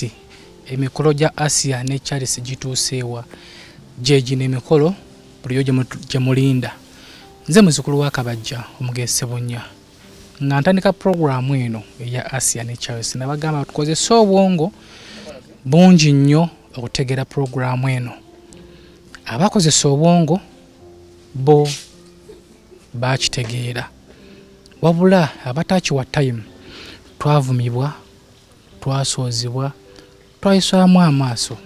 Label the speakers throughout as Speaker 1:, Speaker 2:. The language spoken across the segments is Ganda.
Speaker 1: Kati emikolo gya Asia ne Charles gituuseewa gye gino emikolo buliyo gye mulinda nze muzukulu wa kabajja omugezi sebunya nga ntandika puroguramu eno eya asia ne charles nabagamba tukozese obwongo bungi nnyo okutegeera puroguramu eno abakozesa obwongo bo bakitegeera wabula abatakiwa tayimu twavumibwa Twasoozebwa, twayiswamu amaaso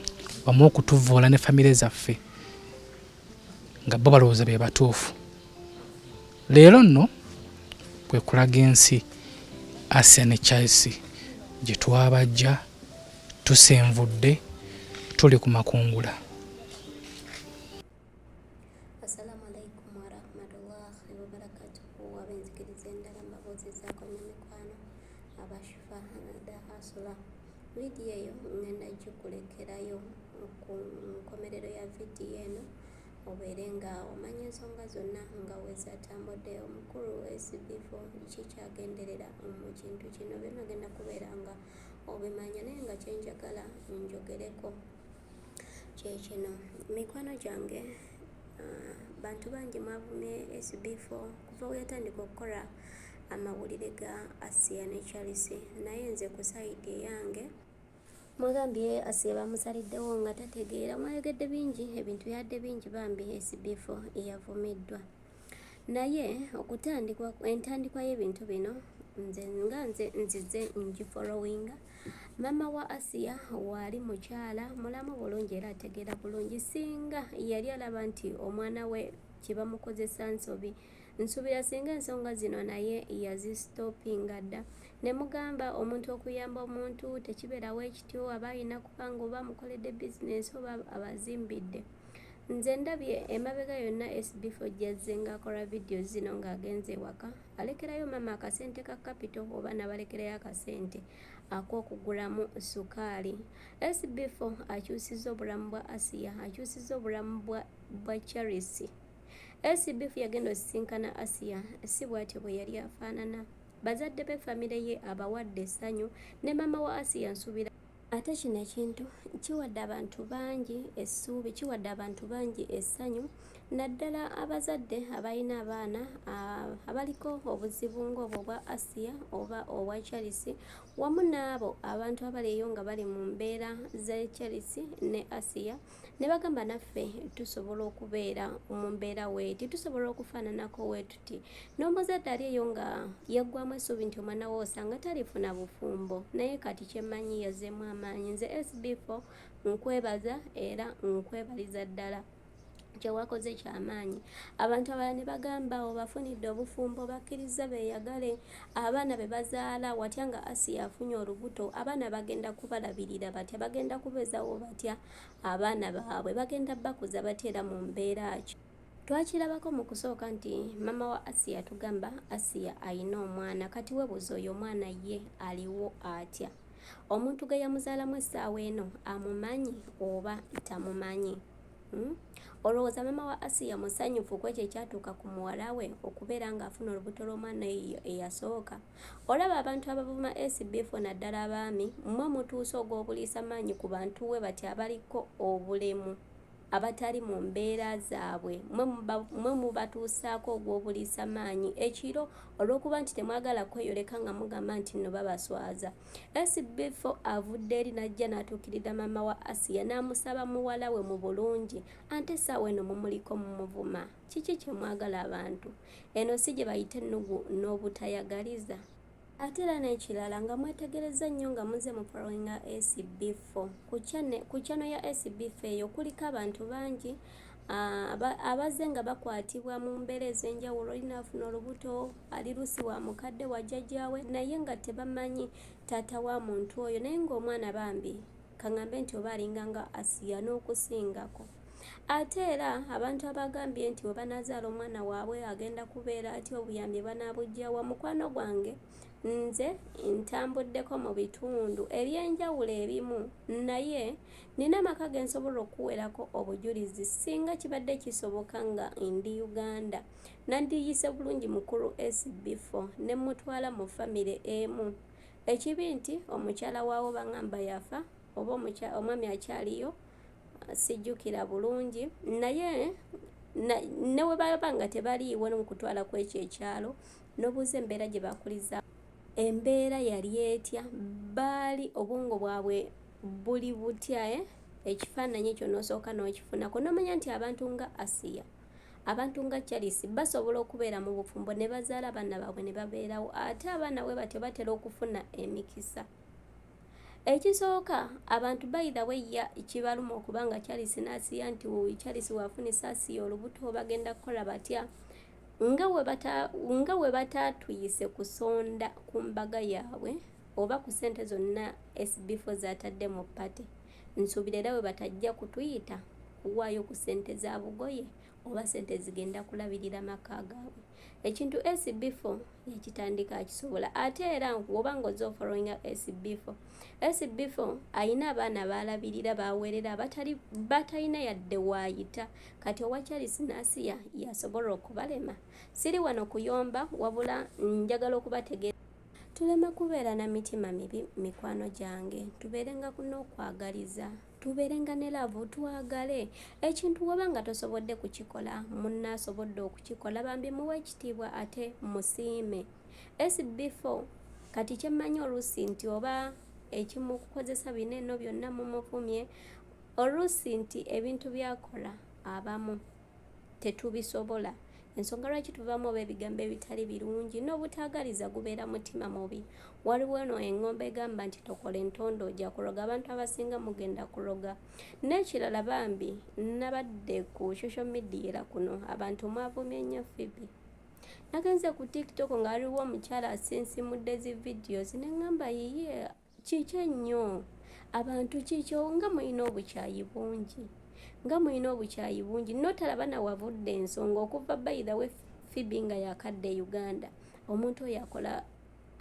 Speaker 1: wamu okutuvvoola ne famire zaffe nga bo balowooza be batuufu. Leero nno kwe kulaga ensi Arsenal ne Chelsea gye twabajja tusenvudde tuli ku makungula.
Speaker 2: Assalamu alaikum warahmatullahi wabarakatuhu abenzikiriza endala mbabuuzizaako ne mikwano abashifa hanada asula vidiyo eyo ngenda gikulekerayo ku nkomerero ya vidiyo eno obeere nga omanya ensonga zonna nga wezatambudde omukulu wesibifo kikyagenderera mu kintu kino byona genda kubeera nga obimanya naye nga kyenjagala njogereko Kyekino mikwano gyange uh, bantu bangi mwavumye SB4 kuva weyatandika okukola amawulire ga Asiya ne Charles, naye nze ku sayidi eyange mwagambye Asiya bamusaliddewo nga tategeera, mwayogedde bingi, ebintu yadde bingi bambi SB4 eyavumiddwa. Naye okutandikwa entandikwa y'ebintu bino nze nga nze nzize ngifolowinga maama wa asiya waali mukyala mulamu bulungi era ategeera bulungi singa yali alaba nti omwana we kyebamukozesa nsobi nsuubira singa ensonga zino naye yazisitopinga dda ne mugamba omuntu okuyamba omuntu tekibeerawo ekityo aba alina kubanga oba amukoledde bizinensi oba abazimbidde Nze ndabye emabega yonna SB4 gyazze ng'akola vidiyo zino ng'agenze ewaka alekerayo maama akasente ka kapito oba n'abalekerayo akasente ak'okugulamu sukaali. SB4 akyusizza obulamu bwa Asiya, akyusizza obulamu bwa Charis. SB4 yagenda osisinkana Asiya, si bw'atyo bwe yali afaanana. Bazadde be famire ye abawadde essanyu ne maama wa Asiya nsuubira Ate kino ekintu kiwadde abantu bangi essuubi, kiwadde abantu bangi essanyu naddala abazadde abalina abaana abaliko obuzibu ng'obwo bwa Asiya oba obwa Charles wamu n'abo abantu abaliyo nga bali mu mbeera z'e Charles ne Asiya. ne bagamba naffe tusobola okubeera mu mbeera weeti tusobola okufaananako weetuti n'omuzadde ali eyo nga yaggwamu essuubi nti omwana we osanga talifuna bufumbo naye kati kyemmanyi yazeemu amaanyi nze sb4 nkwebaza era nkwebaliza ddala kyewakoze kyamaanyi abantu abalala ne bagamba obafunidde obufumbo bakkirizza beeyagale Abaana be bazaala, watya nga Asiya afunye olubuto? Abaana bagenda kubalabirira batya? Bagenda kubezawo batya abaana baabwe? Bagenda bakuza batya era mu mbeera ki? Twakirabako mu kusooka nti mama wa Asiya tugamba Asiya alina omwana. Kati webuuza oyo omwana ye aliwo atya? Omuntu gwe yamuzaalamu essaawa eno amumanyi oba tamumanyi? Hmm? olowooza mama wa asiya musanyufu ku ekyo ekyatuuka ku muwala we okubeera ng'afuna olubuto lw'omwana eyo eyasooka olaba abantu abavuma sbf naddala abaami mmwe mutuusa ogw'obuliisa maanyi ku bantu we bati abaliko obulemu abatali mu mbeera zaabwe mwe mubatuusaako ogw'obuliisa maanyi ekiro olw'okuba nti temwagala kweyoleka nga mugamba nti nno babaswaza SB4 avudde eri n'ajja n'atuukirira maama wa Asiya n'amusaba muwala we mu bulungi ante essaawa eno mumuliko mumuvuma kiki kye mwagala abantu eno si gye bayita ennugu n'obutayagaliza ate era n'ekirala nga mwetegerezza nnyo nga muze mu followinga SB4 ku channel ya SB4 eyo kuliko abantu bangi abazze nga bakwatibwa mu mbeera ez'enjawulo olinaafuna olubuto ali lusi wa mukadde wa jajjaawe naye nga tebamanyi taata wa muntu oyo naye nga omwana bambi kangambe nti oba alinga nga asiya n'okusingako ate era abantu abagambye nti we banazaala omwana waabwe agenda kubeera atya obuyambi banaabujjawa mukwano gwange nze ntambuddeko mu bitundu eby'enjawulo ebimu naye nina amaka ge nsobola okuwerako obujulizi singa kibadde kisoboka nga ndi uganda Nandiiyise bulungi mukulu Ace befo ne mmutwala mu famire emu. Ekibi nti omukyala waawo bang'amba yafa oba omwami akyaliyo sijjukira bulungi naye ne bwe baba nga tebaliiwo nomukutwala ku ekyo ekyalo n'obuuza embeera gye bakuliza embeera yali etya baali obwongo bwabwe buli butya eh? ekifaananyi ekyo n'osooka n'okifunako n'omanya nti abantu nga asiya Abantu nga Charles basobola okubeera mu bufumbo ne bazaala abaana baabwe ne babeerawo ate abaana bwe batyo batera okufuna emikisa. Ekisooka abantu bayidha bweyya kibaluma okuba nga Charles n'asiya nti wuuyi Charles waafuna esaasiya olubuto bagenda kukola batya nga we bataatuyise kusonda ku mbaga yaabwe oba ku ssente zonna SB4 zaatadde mu ppate. Nsuubira era bwe batajja kutuyita kuwaayo ku ssente za bugoye oba ssente ezigenda kulabirira maka gaabwe ekintu SB4 yakitandika akisobola ate era woba nga oze ofollowinga SB4 SB4 alina abaana baalabirira baaweerera abatali batalina yadde waayita kati owa Charles Nasiya yasobola okubalema siri wano kuyomba wabula njagala okubategeera Tuleme kubeera na mitima mibi mikwano gyange, tubeerenga n'okwagaliza, tubeerenga ne laavu, twagale. Ekintu w'oba nga tosobodde kukikola, munno asobodde okukikola bambi muwe ekitiibwa ate musiime. SB4 kati kye mmanyi oluusi nti oba ekimukozesa bino eno byonna mumuvumye oluusi nti ebintu byakola abamu tetubisobola ensonga lwaki tuvaamu oba ebigambo ebitali birungi n'obutaagaliza gubeera mutima mubi waliwo eno eng'ombo egamba nti tokola entondo oja kuloga abantu abasinga mugenda kuloga n'ekirala bambi nabadde ku social media era kuno abantu mwavumye nnyo fibi nagenze ku tiktok nga waliwo omukyala asinsimudde zi videos ne ŋŋamba yiye Kiki ennyo? Abantu kiki nga mulina obukyayi bungi nga mulina obukyayi bungi notalaba nawavudde ensonga okuva by the way fibi nga yakadde e uganda omuntu oyo akola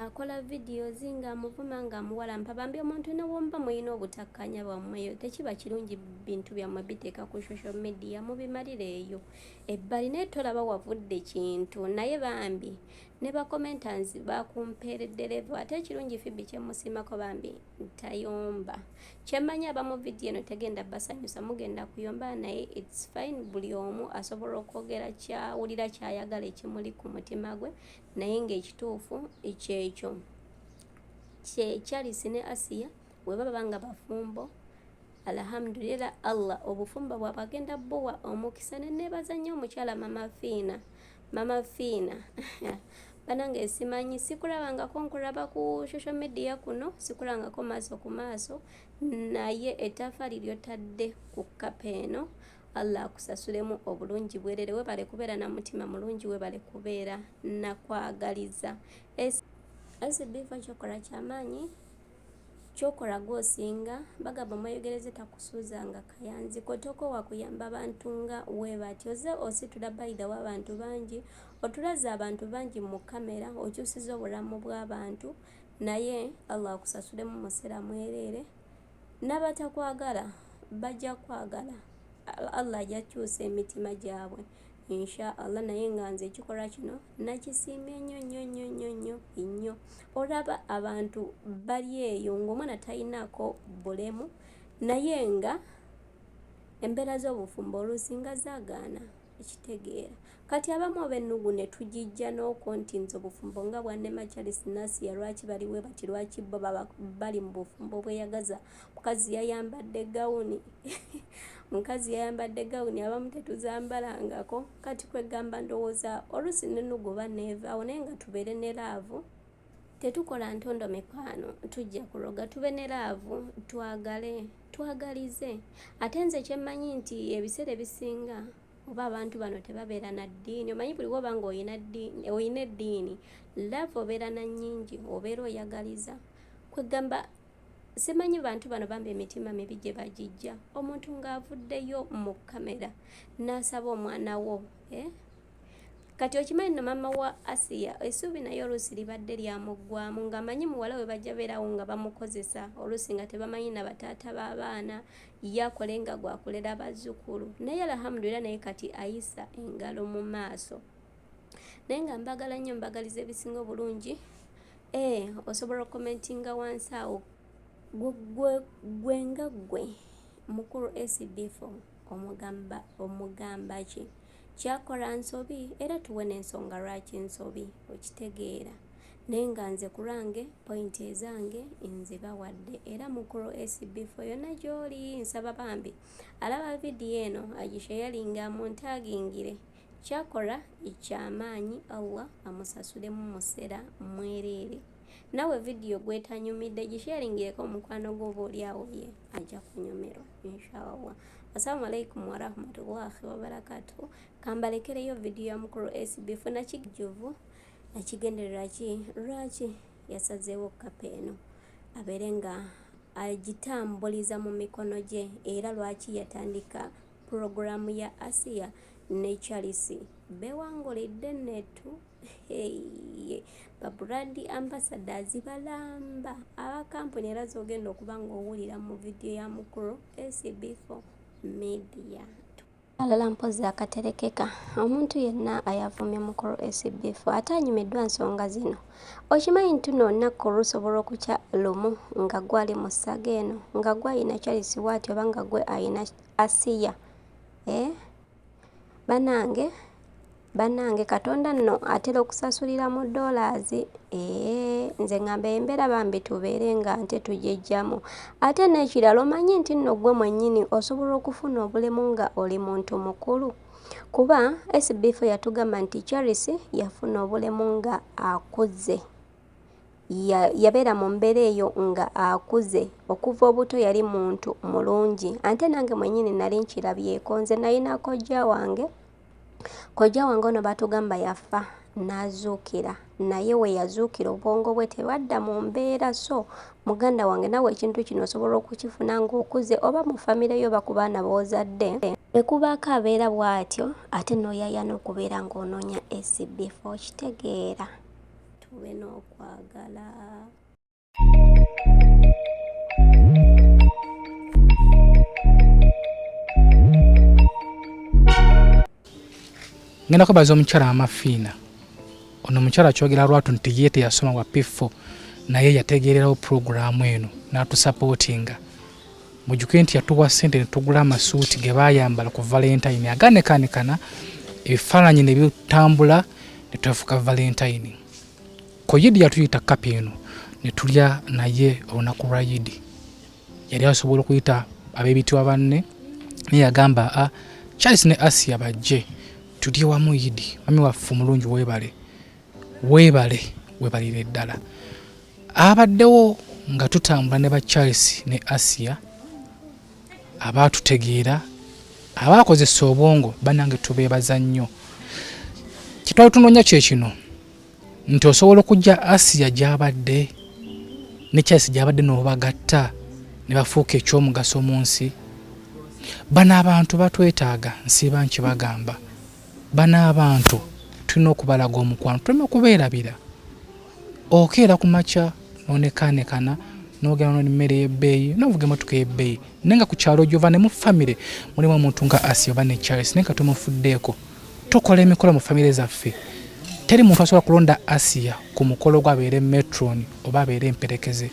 Speaker 2: akola videos nga amuvuma nga amuwalampa bambi omuntu newomba mulina obutakkanya bwammweyo tekiba kirungi bintu byammwe biteeka ku social media mubimalire eyo ebbali naye tolaba wavudde kintu naye bambi Ne ba commenters bakumpeeredde level ate ekirungi Phoebe kyemusiimako bambi tayomba. Kyemmanyi abamu video eno tegenda basanyusa mugenda kuyomba naye it's fine buli omu asobola okwogera kyawulira kyayagala ekimuli ku mutima gwe naye ng'ekituufu kyekyo. Kye Charles ne Asiya weba baba nga bafumbo alhamdulila allah obufumbo bwabwe agenda buwa omukisa nenebaza nnyo omukyala mama fiina mama fiina banange simanyi sikulabangako nkulaba ku social media kuno sikulangako maaso ku maaso naye etafaali lyotadde ku kapa eno allah akusasulemu obulungi bwerere webale kubeera na mutima mulungi webale kubeera nakwagaliza esibiva kyokola kyamaanyi Kyokola gwe osinga bagamba omweyogereze takusuuza nga kayanzi kotoko wakuyamba bantu nga webatyo oze ositula by the way abantu bangi otulaze abantu bangi mu camera okyusiza obulamu bwabantu naye Allah akusasulemu musera mwerere nabatakwagala bajja kwagala Allah ajja kyusa emitima gyabwe. insha allah naye nga nze ekikolwa kino nakisiimye nnyo nnyo nnyo nnyo nnyo nnyo olaba abantu bali eyo ng'omwana talinaako bulemu naye nga embeera z'obufumbo oluusi nga zagaana ekitegeera kati abamu oba ennugu ne tugijja n'okwo nti nze obufumbo nga bwannema charles nasiya lwaki baliwe bati lwaki bo bali mu bufumbo obweyagaza mukazi yayambadde gawuni mukazi yayambadde gawuni abamu tetuzambalangako kati kwegamba ndowooza oluusi nenugoba neevaawo naye nga tubeere ne laavu tetukola ntondo mikwano tujja kuloga tube ne laavu twagale twagalize ate nze kyemmanyi nti ebiseera ebisinga oba abantu bano tebabeera na ddiini omanyi buli woba nga olina eddiini laavu obeera na nnyingi obeera oyagaliza kwegamba simanyi bantu bano bambi emitima mibi gye bagijja omuntu ng'avuddeyo mu kamera n'asaba omwana wo eh? kati okimanyi no mama wa asiya esuubi naye oluusi libadde lyamuggwamu ng'amanyi muwala we bajja beerawo nga bamukozesa oluusi nga tebamanyi na bataata b'abaana ye akole nga gwakulera bazzukulu naye alhamdulira naye kati ayisa engalo mu maaso naye nga mbagala nnyo mbagaliza ebisinga obulungi ee eh, osobola okukomentinga wansi awo gwe nga gwe mukulu acbf omugamba omugamba ki kyakola nsobi era tuwe n'ensonga lwaki nsobi okitegeera naye nga nze ku lwange pointi ezange nzibawadde era mukulu acbf yonna gy'oli nsaba bambi alaba vidiyo eno agisheyalinga mu ntaagingire Kyakola ekyamaanyi Allah amusasule mumusera mwereere nawe video gwetanyumidde gisheringireko omukwano gwo oba olyawo ye aja kunyumirwa inshallah assalamu alaikum warahmatullahi wabarakatuhu kambalekereyo video ya mukulu SB funa kijuvu nakigendererwa ki lwaki yasazeewo kapa eno abeere nga agitambuliza mu mikono gye era lwaki yatandika Pulogulaamu ya Asiya ne Charlse beewangulidde Nettu Hey, ba brand ambassadors balamba aba kampuni era zogenda okuba ng'owulira mu vidiyo ya mukulu SB4 media. Alala mpozzi akaterekeka omuntu yenna ayavumye mukulu SB4 ate anyumiddwa nsonga zino. Okimanyi nti luno olunaku lusobola okukya lumu nga gwali mu ssaga eno nga gwe ayina Charles waati oba nga gwe ayina Asiya eh banange banange katonda nno atera okusasulira mu dollars ee nze ngamba embera bambi tubeere nga nte tujejjamu ate n'ekirala omanyi nti nno gwe mwennyini osobola okufuna obulemu nga oli muntu mukulu kuba sbf yatugamba nti charisi yafuna obulemu nga akuze ya, yabeera mu mbeera eyo nga akuze okuva obuto yali muntu mulungi ante nange mwenyini nali nkirabyeko nze nalina kojja wange kojja wange ono batugamba yafa nazuukira naye we yazuukira obwongo bwe tebadda mu mbeera so muganda wange nawe ekintu kino osobola okukifuna ng'okuze oba mu famire yo oba ku baana boozadde ekubaako abeera bw'atyo ate n'oyayana okubeera ng'onoonya acb4 okitegeera tube
Speaker 1: n'okwagala ngenda kwebaza omukyala amafiina ono omukyala kyogera lwatu nti ye teyasoma wa pifo naye yategeererawo pulogulaamu eno n'atusapootinga Mujjuke nti yatuwa ssente ne tugula amasuuti ge baayambala ku valentayini aganekaanekana ebifaananyi ne bitambula ne twefuka valentayini. Ku yidi yatuyita kapa eno ne tulya naye olunaku lwa yidi. Yali asobola okuyita ab'ebitiwa banne naye yagamba a ah, Charles ne Asia bajje tulye wamu yidi. Mami waffe omulungi weebale. Weebale webalire ddala abaddewo nga tutambula ne ba Charles ne Asia abaatutegeera abaakozesa obwongo banange tubeebaza nnyo kitwali tunoonya kye kino nti osobola okujja Asia gy'abadde ne Charles gy'abadde n'obagatta ne bafuuka eky'omugaso mu nsi bano abantu batwetaaga nsiiba nkibagamba Bano abantu tulina okubalaga omukwano, tuleme kubeerabira. Okeera ku makya n'onekaanekana n'ogenda n'oli mmere y'ebbeeyi n'ovuga emmotoka ey'ebbeeyi naye nga ku kyalo gy'ova ne mu famire mulimu omuntu nga Asia oba ne Charles naye nga tumufuddeeko. Tukola emikolo mu famire zaffe. Teri muntu asobola kulonda Asia ku mukolo gwe abeere metron oba abeere emperekeze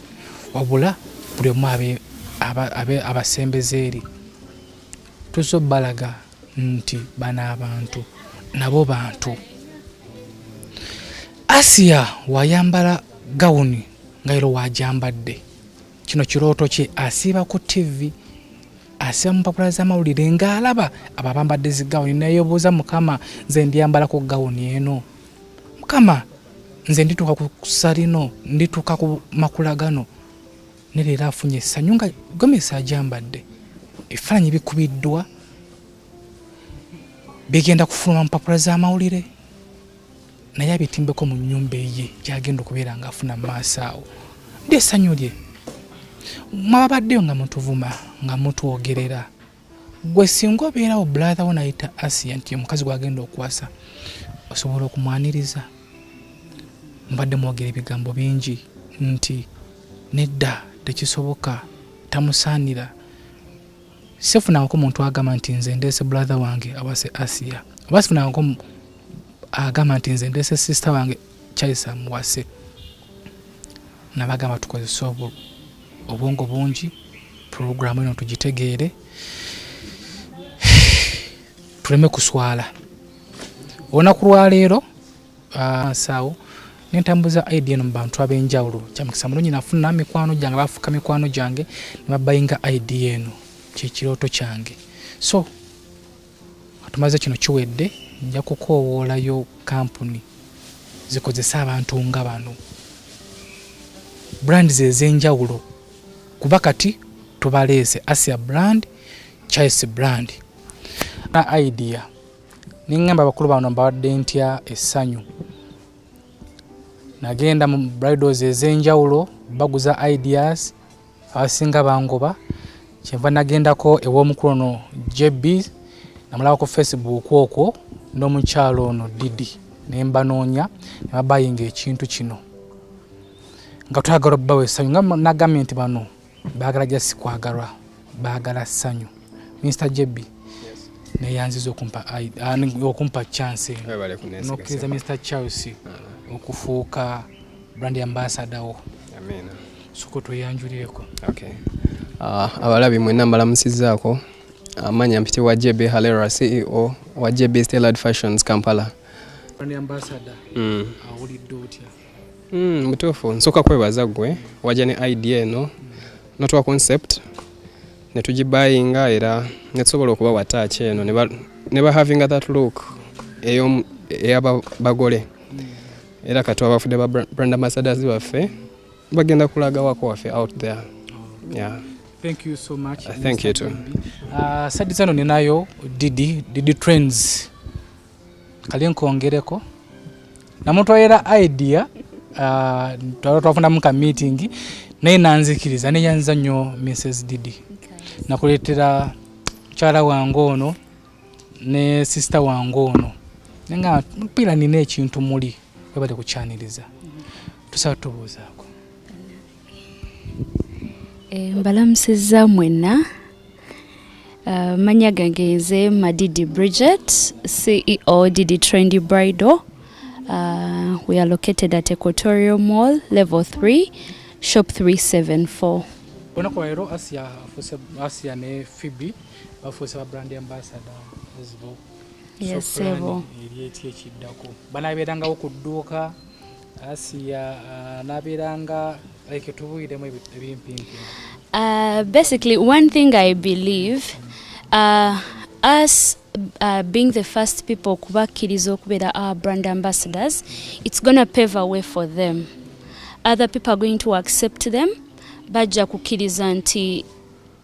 Speaker 1: wabula buli omu abe abasembeze eri. Tuzze obalaga nti bano abantu nabo bantu asiya wayambala gawuni nga era wajambadde kino kirooto kye asiiba ku tivi asiba mupapula zamawulire ngaalaba abo abambadde zigawuni neyobuuza mukama nze ndyambalako gawuni eno mukama nze ndituuka ku salino ndituuka ku makula gano ne leero afunye essanyu nga gomesi ajambadde ebifaananyi bikubiddwa bigenda kufuluma mupapula z'amawulire naye abitimbeko mu nyumba eye gyagenda okubeera nga afuna mumaaso awo ndi essanyu lye mwababaddeyo nga mutuvuma nga mutwogerera gwe singa obeerawo brother wo nayita asia nti omukazi gwagenda okuwasa osobola okumwaniriza mbadde mwogera ebigambo bingi nti nedda tekisoboka tamusaanira sifunangako muntu agamba nti nze ndeese brother wange awase asia oba sifunangako agamba nti nze ndeese sister wange chaisa muwase nabagamba tukozesa obulw obwongo bungi pulogulaamu eno tugitegeere tuleme kuswala olunaku lwaleero ah, nsawo nentambuza id eno mu bantu ab'enjawulo kyamukisa mulungi nafuna mikwano gyange bafuuka mikwano gyange nebabayinga id eno kyekirooto kyange so tumaze kino kiwedde nja kukoowoolayo kampuni zikozese abantu nga bano brand zezenjawulo kuba kati tubaleese asia brand chis brand na idea nengamba abakulu bano mbawadde ntya essanyu nagenda mu bridals ezenjawulo baguza ideas abasinga bangoba kyenva nagendako ew'omukulu ono jb namulaba ku facebook okwo n'omukyalo ono didi ne mbanoonya ne babayinga ekintu kino nga twagala obbawa essanyu nga nagambye nti bano baagala ja sikwagalwa baagala ssanyu minisita jb neyanziza okumpa chance nokkiriza minisita charles ah. okufuuka brand ambassador wo amina soko tweyanjulireko okay
Speaker 3: uh, abalabi mwena mbalamusizaako amanya mpite wa jb halera ceo wa jb stellard fashions kampala brand
Speaker 1: ambassador mm. awulidde otya mm, mutuufu
Speaker 3: nsooka kwebaza gwe wajja ne idea eno mm. notwa concept netugibayinga era netusobola okuba wataaki eno ne bahavinga that look eyaba bagole mm. era kati abafudde ba brand ambassadors baffe bagenda kulaga wako waffe out there oh. yeah.
Speaker 1: Thank you so much. Uh, thank you too. Uh,
Speaker 3: sadi zano
Speaker 1: ninayo Didi, Didi Trends. Kali nkongereko. Na mtu ayera idea uh, twala twafuna muka meeting naye nanzikiriza neyanza nnyo Mrs Didi. Okay. Nakuleetera mukyala wange ono ne sister wange ono nga mpira nina ekintu muli webale kukyaniriza tusaba tubuuzaako
Speaker 4: eh, mbalamusizza mwenna eh, manya gange nze madidi bridget ceo didi trendy bridal Uh, we are located at Equatorial Mall, level 3, shop
Speaker 1: 374. bafuuse ba brand ambassador ezibo yesebo
Speaker 4: eryeti ekiddako
Speaker 1: banabeerangawo ku dduuka asiya uh, nabeeranga like tubuiremu ebimpimpi uh,
Speaker 4: basically one thing i believe uh, us uh, being the first people kubakkiriza okubeera our brand ambassadors it's gonna pave a way for them other people are going to accept them bajja kukkiriza nti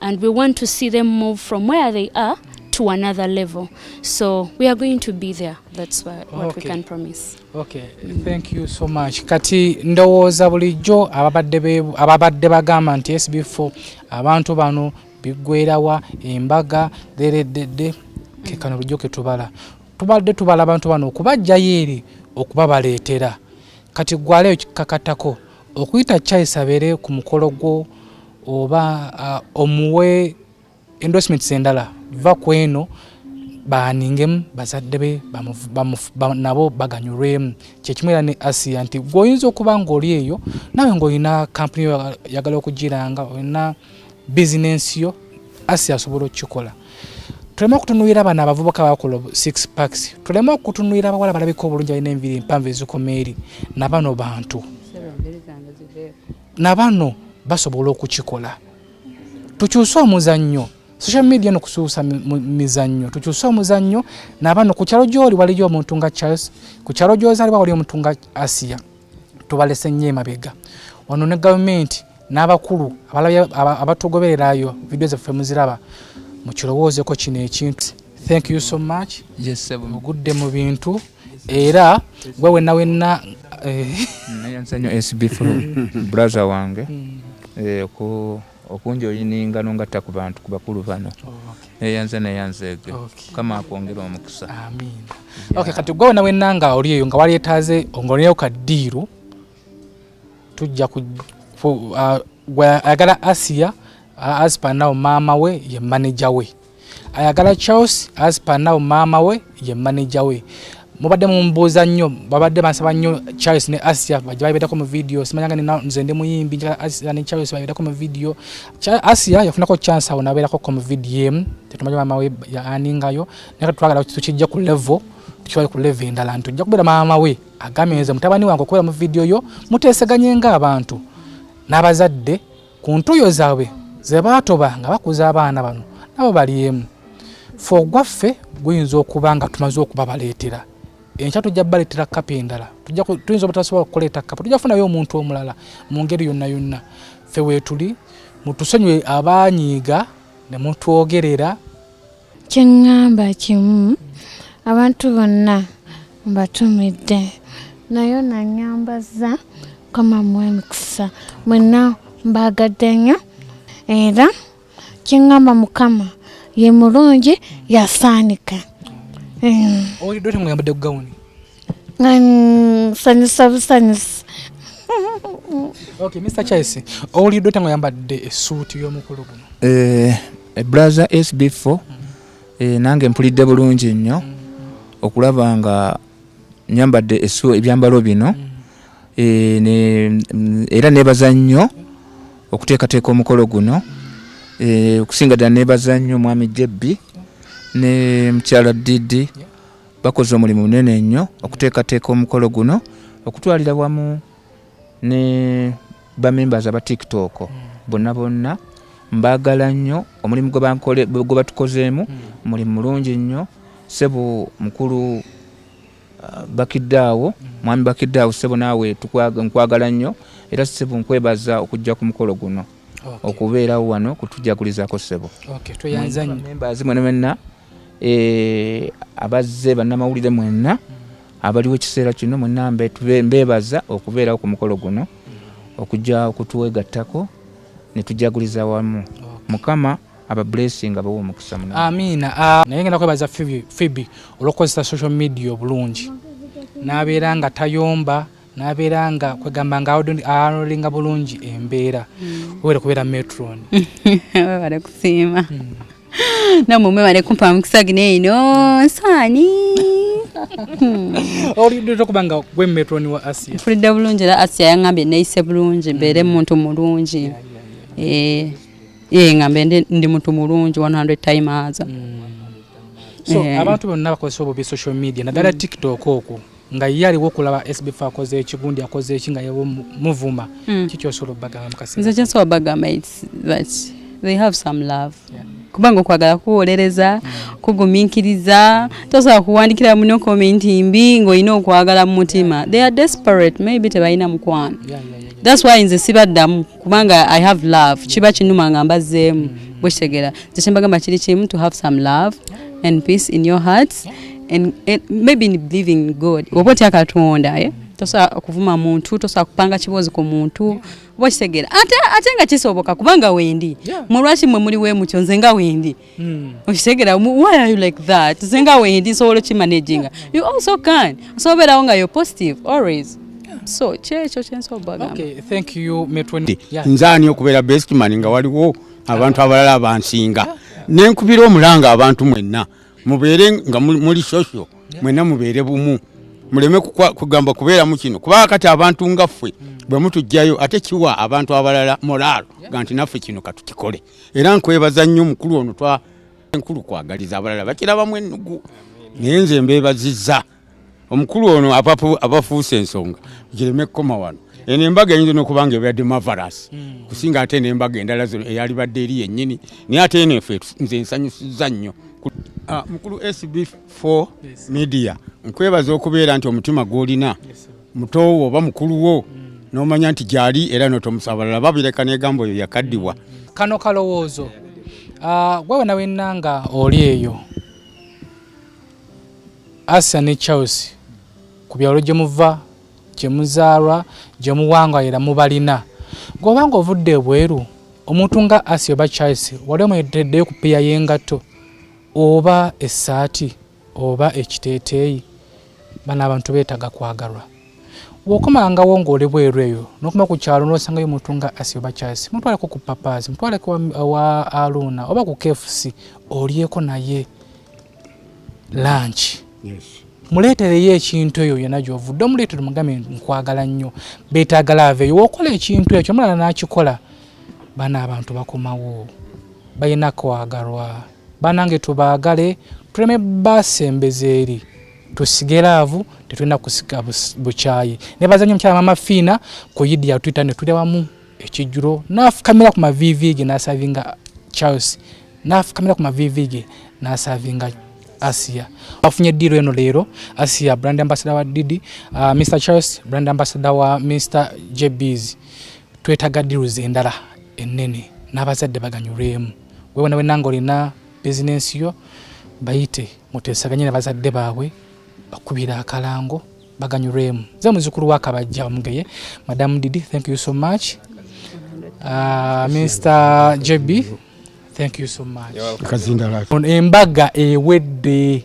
Speaker 4: and we want to see them move from where they are to another level so we are going to be there that's what, what okay. we can promise okay mm. thank
Speaker 1: you so much kati ndowooza bulijjo ababadde ababadde bagamba nti sb4 abantu bano biggwerawa embaga derededde kekano bulijjo ketubala tubadde tubala abantu bano okubajjayo eri okubabaleetera kati gwaleyo kikakatako okuyita Charles abeere ku mukolo gwo oba uh, omuwe endorsements endala va ku eno baaningemu bazadde be nabo baganyulwemu kyekimu era ne asia nti gweoyinza okuba ngaoli eyo nawe ngaolina kampuni yagala okugiranga olina bizinensi yo asi asobola okukikola tuleme okutunuira bano abavubuka bakola six packs tuleme okutunuira abawala balabika obulungi balina enviri empanvu ezikoma eri nabano bantu nabano basobola okukikola tukyuse omuzannyo social media no kusuusa mizannyo tukyuse omuzannyo nabano ku kyalo gyoli waliyo omuntu nga charles ku kyalo gyozaaliwa waliyo omuntu nga asiya tubalese nnyo emabega wano ne gavumenti n'abakulu abatugobererayo vidiyo zaffe muziraba mukirowoozeko kino ekintu thank you so much yes, mugudde
Speaker 5: mu bintu
Speaker 1: era gwe wenna wenna eh,
Speaker 5: nayansanyo sbf braza wange hmm. eh, ku okunjoyiningano ngatta ku bantu ku bakulu bano neyanze neyanzeege mukama akwongera omukisa
Speaker 1: kati gwe wena wenna nga oli eyo nga walyetaaze ongoneyo kaddiiru tujja uh, ayagala asiya asipanawo maama we ye maneja we ayagala charles as per now maama we ye manager we mubadde mumbuuza nnyo babadde bansaba nnyo charles ne asia baja babedako mu video simanyanga nina nze ndi muyimbi njala asia ne charles babedako mu video asia yafunako chance awo nabeerako ko mu video emu tetumanyi maama we yaaningayo naye twagala tukijja ku level tukiwale ku level endala nti ojja kubeera maama we agambye nze mutabani wange okubeera mu video yo muteeseganye ng'abantu n'abazadde ku ntuyo zaabwe ze baatoba nga bakuza abaana bano nabo balyemu fe ogwaffe guyinza okuba nga tumaze okubabaleetera enkya tujja baleetera kapa endala tuyinza obutasobola okuleeta kapa tujja kufunayo omuntu omulala mu ngeri yonna yonna fe weetuli mutusonyiwe abaanyiiga ne mutwogerera
Speaker 6: kyeŋŋamba kimu abantu bonna mbatumidde nayo nanyambazza kama mu emikisa mwenna mbaagadde nnyo era kyeŋŋamba mukama ye mulungi yasaanika
Speaker 1: owulidde otemuyambadde ku gawuni nsanyusa
Speaker 6: busanyusi
Speaker 1: okay mr chaisi owulidde otya nga oyambadde esuuti y'omukulu guno eh, eh, braza
Speaker 5: sb 4 eh, nange mpulidde bulungi nnyo mm. okulaba nga nyambadde ebyambalo bino mm. mm, era nebaza nnyo okuteekateeka omukolo guno okusinga ddala nebaza nnyo omwami jebbi ne mukyala didi bakoze omulimu munene nnyo okuteekateeka omukolo guno okutwalira wamu ne bamembers aba tiktok hmm. bonna bonna mbaagala nnyo omulimu gwe batukozeemu hmm. mulimu mulungi nnyo sebo mukulu uh, bakiddaawo hmm. mwami bakiddaawo sebo naawe nkwagala nnyo era sebo nkwebaza okujja ku mukolo guno okubeerawo wano kutujagulizaako sebo tweyanzanyo
Speaker 1: memba azimwe ne menna
Speaker 5: Eh, abazze bannamawulire mwenna abaliwo ekiseera kino mwenna mbeebaza okubeerawo ku mukolo guno okujja okutwegattako ne tujaguliza wamu mukama aba blessing abawa omukisa muna amiina ah, naye ngenda
Speaker 1: kwebaza fibi olwokukozesa social media obulungi n'abeera nga tayomba nabeera nga kwegamba nga arolinga bulungi embeera hmm. webale kubeera metron webale
Speaker 7: kusiima hmm. namwe mwebale kumpa mukisa gino eno nsaani
Speaker 1: olidde okuba nga gwe metron wa asia mpulidde bulungi era asia
Speaker 7: yangambye neyise bulungi mbeere hmm. muntu mulungi ee eh, eh, ngambe ndi muntu mulungi 100 times so eh.
Speaker 1: abantu bonna bakozesa obubi social media naddala tiktok okwo nga ye aliwo okulaba sbf akoze eki gundi akoze eki nga yewo muvuma mm. kiki osobola obagamba mukasnze kyensobola bagamba its
Speaker 7: that they have some love yeah. kubanga okwagala kuwolereza mm. kugumiikiriza mm. tosobola kuwandikira muno komenti mbi ng'olina okwagala mu mutima yeah. they are desperate maybe tebalina mukwano yeah, yeah, yeah, yeah. thats why nze sibaddamu kubanga i have love kiba kinuma nga mbazeemu mm. bwekitegera nze kyembagamba kiri kimu to have some love and peace in your heart and, and maybe in believing god oba otya katonda eh? tosobola kuvuma muntu tosobola kupanga kiboozi ku muntu oba kitegera ate nga kisoboka kubanga wendi mulwaki mwe muli wemutyo nze nga wendi Hmm. okitegera why are you like that zenga wendi nsobola okimanaginga you also can osobola obeerawo nga you're positive always so kyekyo kyensobagambnzani
Speaker 1: okubeera
Speaker 8: bestman nga waliwo abantu abalala abansinga nenkubira omulanga abantu mwenna mubeere nga muli social mwenna mubeere bumu muleme kugamba kubeeramu kino kubanga kati abantu nga ffe bwe mutujjayo ate kiwa abantu abalala moraalo ga nti naffe kino katukikole era nkwebaza nnyo mukulu ono twa enkulu kwagaliza abalala bakirabamu ennugu naye nze mbeebazizza omukulu ono abafuuse ensonga gireme kukoma wano eno embaga eyinza nokuba nga ebadde mavaras hmm. kusinga ate nembaga endala zino eyalibadde eri yennyini naye ate eno efe nze ensanyusiza nnyo ah, mukulu sb4 media nkwebaza okubeera nti omutima gwolina mutoowo oba mukulu wo n'omanya nti gyali era notomusabalala babireka negambo oyo yakaddibwa kano kalowoozo
Speaker 1: ah, gwe wena wenna nga oli eyo asa ne charles ku byalo gye muva gye muzaalwa gye muwangayira mubalina gweoba nga ovudde ebweru omuntu nga asi oba charles wali omuyiteddeyo ku piya y'engatto oba essaati oba ekiteeteeyi bano abantu beetaga kwagalwa bwokomangawo ngaoli bweru eyo nokuma ku kyalo nosangayo omuntu nga asi oba kyasi mutwaleko ku papazi mutwaleko wa aluuna oba ku kfc olyeko naye lanki yes. muleetereyo ekintu eyo yona gyovudde omuleetere mugambe nkwagala nnyo beetagala aveeyo wokola ekintu ekyo omulala n'akikola bana abantu bakomawo balina kwagalwa banange tubaagale tuleme basembeza eri tusige laavu tetulina kusika bukyayi nebaza nyo mukyala mama fiina ku yidi yatwita ne tuli wamu ekijjulo nafukamira ku mavivi ge nasavinga charles nafukamira ku mavivi ge nasavinga asia afunye ddiiro eno leero asia brand ambassador wa didi uh, ah, mr charles brand ambassador wa mr jbs twetaga ddiiro zendala ennene n'abazadde baganyulwemu wewena wena nga olina bizinensi yo bayite mutesaganye nabazadde baabwe bakubira akalango baganyulwemu ze muzukulu wakabajja omugeye madam didi thank you so much uh, mr jb thank you so much embaga ewedde